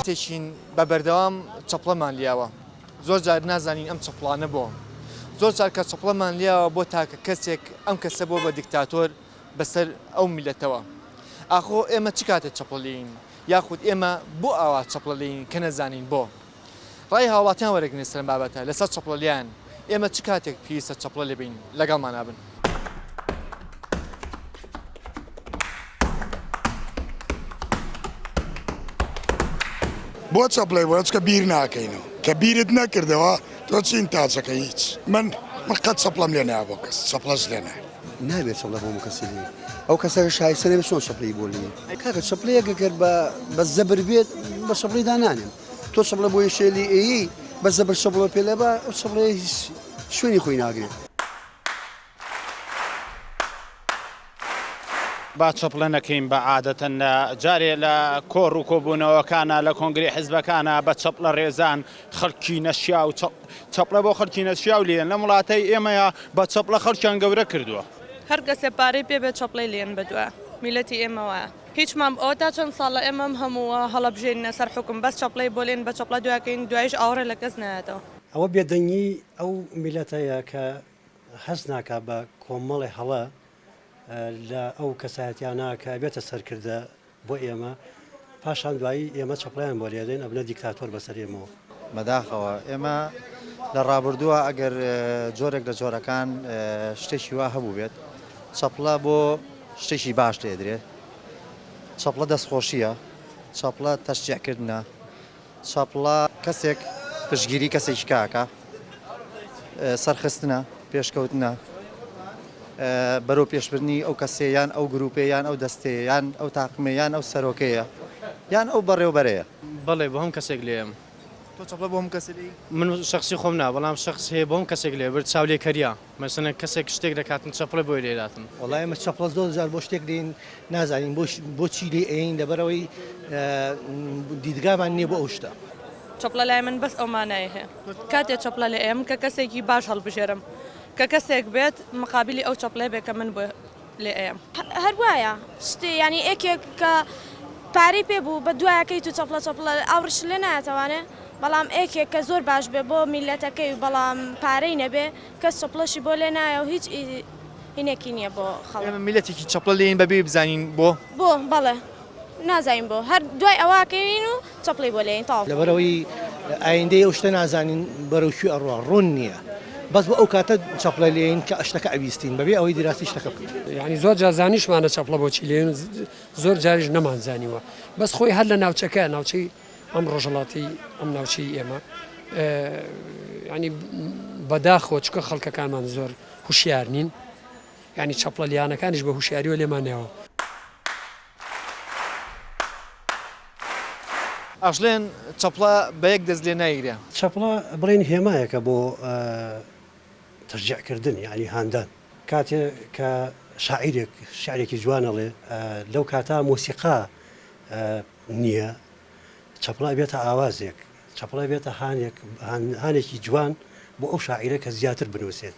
تێچین بە بەردەوام چەپڵەمان لیاوە زۆر جار نازانین ئەم چەپڵانە بۆ زۆر جار کە چەپڵەمان لیاوە بۆ تاکە کەسێک ئەم کەسە بۆ بە دیکتاتۆر بەسەر ئەو میلەتەوە ئاخۆ ئێمە چ کاتێک چەپڵەلین یاخود ئێمە بۆ ئاوا چەپڵەلین کە نەزانین بۆ. ڕای هاوڵاتیان وەرەگرن لەسەر ئەم بابەتە، لەسەر چەپڵە لێیان، ئێمە چ کاتێک پێویستە چەپڵە لێ بین، لەگەڵمانا بن. بۆ چەپڵەی بۆ چکە بیر ناکەینەوە کە بیرت نەکردەوە تۆ چین تاچەکە هیچ من من قەت چەپڵەم لێ نایە بۆ کەس چەپڵەش لێ نایە نابێت چەڵە بۆ کەسی لێ ئەو کەسەکە شایستە نەبێت چۆن چەپڵی بۆ لێ کاکە چەپڵەیەکە گەر بە بە زەبر بێت بە چەپڵی دانانێن تۆ چەپڵە بۆیە شێلی ئێیی بەس زەبر چەپڵە پێ لەبە ئەو چەپڵەیە هیچ شوێنی خۆی ناگرێت. با چەپڵە نەکەین بە عادەتەن لە جارێ لە کۆڕ و کۆبوونەوەکانە لە کۆنگری حزبەکانە بە چەپڵە ڕێزان خەڵکی نەشیا و چەپڵە بۆ خەڵکی نەشیا و لێن لەم وڵاتەی ئێمەیە بە چەپڵە خەڵکیان گەورە کردووە. هەر کەسێ پارەی پێ بێ چەپڵەی لێن بە دوا میلەتی ئێمەوە. هیچ مام ئۆ تا چەند ساڵە ئێمە ئەم هەموو هەڵەبژێرینە سەر حوکم بەس چەپڵەی بۆ لێن بە چەپڵە دوا کەین دوایش ئاوڕێ لە کەس نایەتەوە. ئەوە بێدەنگی ئەو میلەتەیە کە هەست ناکا بە کۆمەڵێ هەڵە لە ئەو کەسایەتیانە کە ئەبێتە سەرکردە بۆ ئێمە پاشان دوایی ئێمە چەپڵەیان بۆ لێدەین ئەبنە دیکتاتۆر بەسەر ئێمەوە. بەداخەوە ئێمە لە ڕابردووە ئەگەر جۆرێک لە جۆرەکان شتێکی وا هەبووبێت چەپڵە بۆ شتێکی باش دێدرێت چەپڵە دەستخۆشیە چەپڵە تەشجیعکردە چەپڵە کەسێک پشگیری کەسێکی کاکە سەرخستنە پێشکەوتنە بەرەو پێشبردنی ئەو کەسێ یان ئەو گروپێ یان ئەو دەستەیە یان ئەو تاقمێ یان ئەو سەرۆکەیە یان ئەو بەڕێوبەرەیە. بەڵێ بۆ هەم کەسێک لێم. تۆ چەپڵە بۆ هەم کەسێ لێی؟ من شەخسی خۆم نا بەڵام شەخس هەیە بۆ هەم کەسێک لێ برد چاولێکەریا مەسەلەن کەسێک شتێک دەکات من چەپڵە بۆی لێ داتم. وەڵا ئێمە چەپڵە زۆر جار بۆ شتێک لێین نازانین بۆ بۆ چی لێی ئەیەین لەبەرئەوەی دیدگامان نیە بۆ ئەو شتە. چەپڵە لای من بەس ئەو مانای هەیە کاتێ چەپڵە لێ ئەیەم کە کەسێکی باش هەڵبژێرم کە کەسێک بێت مقابلی ئەو چەپڵەیە بێت کە من بۆی لێ ئەیەم. هەر وایە شتێ یانی ئێکێک کە پارەی پێ بوو بە دوایە کەیت و چەپڵە چەپڵە ئاوڕشت لێ نایەتەوانێ بەڵام ئێکێک کە زۆر باش بێ بۆ میلەتەکەی و بەڵام پارەی نەبێ کەس چەپڵەشی بۆ لێ نایە و هیچ هینێکی نییە بۆ خەڵک. ئێمە میلەتێکی چەپڵە لێین بەبێی بزانین بۆ؟ بۆ؟ بەڵێ نازانین بۆ هەر دوای ئەوە کەوین و. چەپڵەی بۆ لێین تەواو. لەبەرئەوەی ئایندەی ئەو شتە نازانین بەرەو کوێ ئەڕوا ڕوون نیە بەس بۆ ئەو کاتە چەپڵە لێین کە شتەکە ئەبیستین بەبێ ئەوەی دیراسی شتەکە بکەین. یانی زۆر جار زانیشمانە چەپڵە بۆچی لێین و زۆر جاریش نەمان زانیوە بەس خۆی هەر لە ناوچەکە ناوچەی ئەم ڕۆژەڵاتی ئەم ناوچەی ئێمە یانی بەداخەوە چکە خەڵکەکانمان زۆر هوشیار نین یانی چەپڵە لێیانەکانیش بە هوشیاریوە لێمان نەیەوە. ئەژلێن چەپڵە بە یەک دەست لێ نایگرێ. چەپڵە بڵێن هێمایەکە بۆ تەشجیع کردن یانی هاندان. کاتێ کە شاعیرێک شعرێکی جوان ئەڵێ لەو کاتا مۆسیقا نییە چەپڵە ئەبێتە ئاوازێک، چەپڵە ئەبێتە هانێک، هانێکی جوان بۆ ئەو شاعیرە کە زیاتر بنووسێت.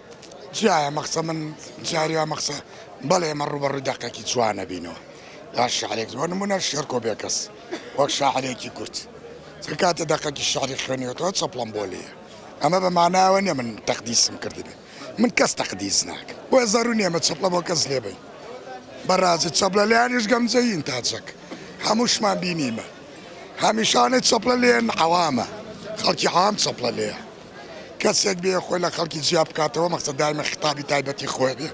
جا ئەمە قسە من جاری ئەمە قسە بەڵێ ئێمە ڕووبەڕووی دەقێکی چوار نەبینەوە یا شعرێک بۆ نمونە شێرکۆ بێکەس وەک شاعرێکی کورد چ کاتێ دەقێکی شعری خوێنیوەتەوە چەپڵەم بۆ لێیە ئەمە بە ماناوە نیە من تەقدیسم کردبێ من کەس تەقدیس ناکە بۆیە زەرو نیە مە چەپڵە بۆ کەس لێبین بەڕازی چەپلە لەیانیش گەمجەین تاچەک هەمووشمان بینیمە هەمیشانە چەپلە لێن عەوامە خەڵکی عام چەپلە لێە کەسێک بێ خۆی لە خەڵکی جیا بکاتەوە مەخسە دایمە خطابی تایبەتی خۆی بێ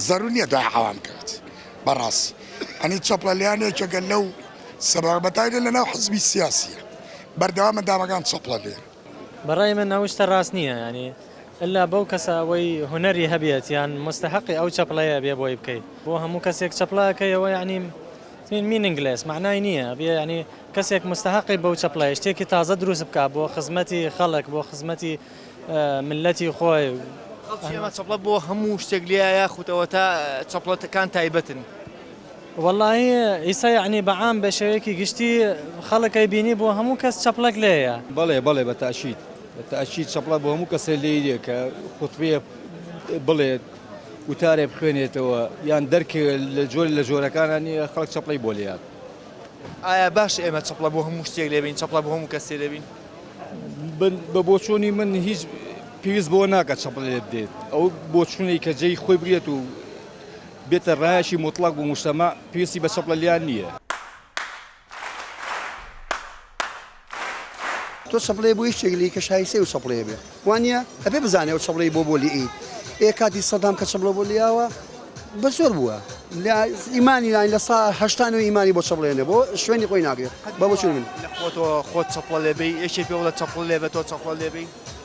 زەرو نییە دای عوام کات بەڕاستی ئەنی چەپڵەلیان یەکێکە لەو سەبارە بەتایبەت لەناو حزبی سیاسیە بەردەوامە دامەکان چەپڵە لێن. بەڕای من ئەو شتە ڕاست نییە یانی ئیلا بەو کەسە ئەوەی هونەری هەبێت یان موستەهەقی ئەو چەپڵەیە بێ بۆی بکەی بۆ هەموو کەسێک چەپڵە ئەکەیەوە یانی. Mean Meaningless مەعنای نییە ئەبێ یانی کەسێک مستەهەقی بەو چەپڵەیە شتێکی تازە دروست بکات بۆ خزمەتی خەڵک بۆ خزمەتی ملەتی خۆی. خەڵکی ئەمە چەپڵە بۆ هەموو شتێک لێیە یاخود ئەوەتا چەپڵە کان تایبەتن؟ وەڵاهی ئیسە یانی بە عام بە شێوەیەکی گشتی خەڵک ئەیبینی بۆ هەموو کەس چەپڵەک لێیە. بەڵێ بەڵێ بە تاکید بە تاکید چەپڵە بۆ هەموو کەسێ لێیە کە خوتبەیەک بڵێت. وتارێ بخوێنێتەوە یان دەرکێ لە جۆرێ لە جۆرەکانە نییە خەڵک چەپڵەی بۆ لێیات. ئایا باشە ئێمە چەپڵە بۆ هەموو شتێک لێ بین، چەپڵە بۆ هەموو کەسێ لێ بین؟ بە بۆچوونی من هیچ پێویست بەوە ناکات چەپڵە لێ بدەیت. ئەو بۆچوونەی کە جێی خۆی بگرێت و بێتە ڕایەکی موتڵەق بۆ موشتەما، پێویستی بە چەپڵە لێیان نییە. تۆ چەپڵەیە بۆ هیچ شتێک لێی کە شایستەی و چەپڵەیە بێ وانە ئەبێ بزانێ و چەپڵی بۆ بۆ لێی ئێ کاتی سەدام کە چەپڵە بۆ لیاوە بە زۆر بووە لە ئیمانی لاین لە سا هەشتان و ئیمانی بۆ چەپڵێنە بۆ شوێنی خۆی ناگرێت بە بۆچون من خۆت چەپڵە لێبی یەکێ پێ وڵە چەپڵ لێبێت تۆ چەپڵە لێبی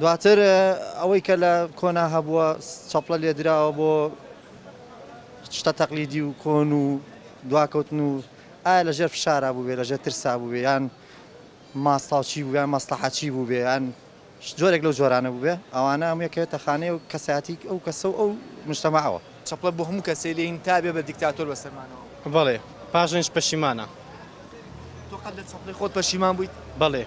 دواتر ئەوەی کە لە کۆنا هەبووە چەپڵە لێدراوە بۆ شتە تەقلیدی و کۆن و دواکەوتن و ئایا لە ژێر فشارا بووێ لە ژێر ترسا بووێ یان ماستاوچی بوویان مەسلحەچی بووێیان جۆرێک لەو جۆرانە بووبێ، ئەوانە هەموو یەکەوێتە خانەی ئەو کەسایەتی ئەو کەسە و ئەو موجتەمەعەوە. چەپڵە بۆ هەموو کەسێ لێین تا بێ بە دیکتاتۆر بە سەرمانەوە. بەڵێ پاشانیش پەشیمانە. تۆ قەت لە چەپڵەی خۆت پەشیمان بوویت؟ بەڵێ.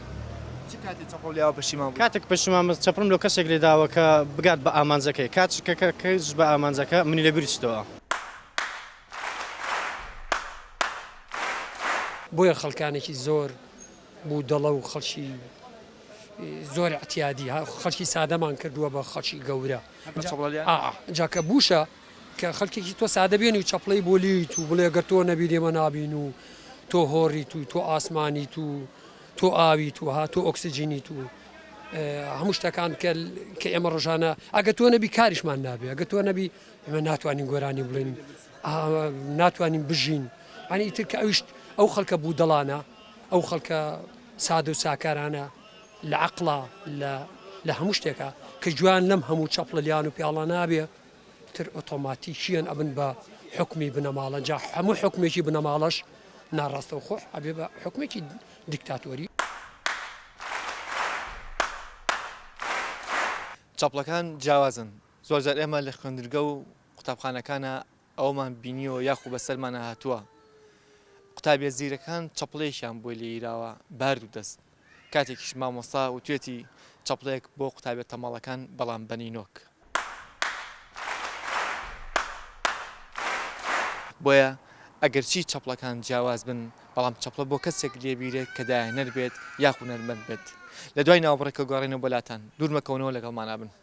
چ کاتێ چەپڵەم لێ داوە پەشیمان بوویت؟ کاتێک پەشیمان بم چەپڵەم لۆ کەسێک لێ داوە کە بگات بە ئامانجەکەی. کاتیش کە کەیتس بە ئامانجەکە منی لە بیر چتەوە. بۆیە خەڵکانێکی زۆر بودەڵە و خەڵکی زۆر اعتیادی ها خەڵکی سادەمان کردووە بە خەڵکی گەورە جا کە بوشە کە خەڵکێکی تۆ سادە بێن و چەپڵەی بۆ لیت و بڵێ گەر تۆ نەبی لێمە نابین و تۆ هۆڕیت و تۆ ئاسمانیت و تۆ ئاویت و هاتۆ ئۆکسسیجینیت و هەموو شتەکان کە کە ئێمە ڕژانە ئەگە تۆ نەبی کاریشمان نابێ ئەگە تۆ نەبی ئمە ناتوانین گۆرانی بڵین ناتوانین بژین ئەنی تر کە ئەویشت ئەو خەڵکە بوو دەڵانە ئەو خەڵکە سادە و ساکارانە لە عەقڵا لە هەموو شتێکە کە جوان لەم هەموو چەپڵە لیان و پیاڵە نابێ تر ئۆتۆماتیکیەن ئەبن بە حکمی بنەماڵە جا هەموو حکمێکی بنەماڵەش ناڕاستە و خۆش ئەبێ بە حکمێکی دیکتاتۆری چەپڵەکان جیاوازن زۆرجار ئێمە لە خوێندرگە و قوتابخانەکانە ئەوەمان بینیوە یاخو بەسەرمانا هاتووە قوتابیە زیرەکان چەپڵەیەکیان بۆ لێیراوە بارد و دەست کاتێکیش مامۆستا وتوێتی چەپڵەیەک بۆ قوتابیە تەمەڵەکان بەڵام بە نینۆک بۆیە ئەگەرچی چەپڵەکان جیاواز بن بەڵام چەپڵە بۆ کەسێک لێبیرێت کە دایەنەر بێت یاخو نەرمەند بێت لە دوای ناوەبڕێکە گۆڕێنەوە بۆ لاتان دوور مەکەونەوە لەگەڵمانا بن.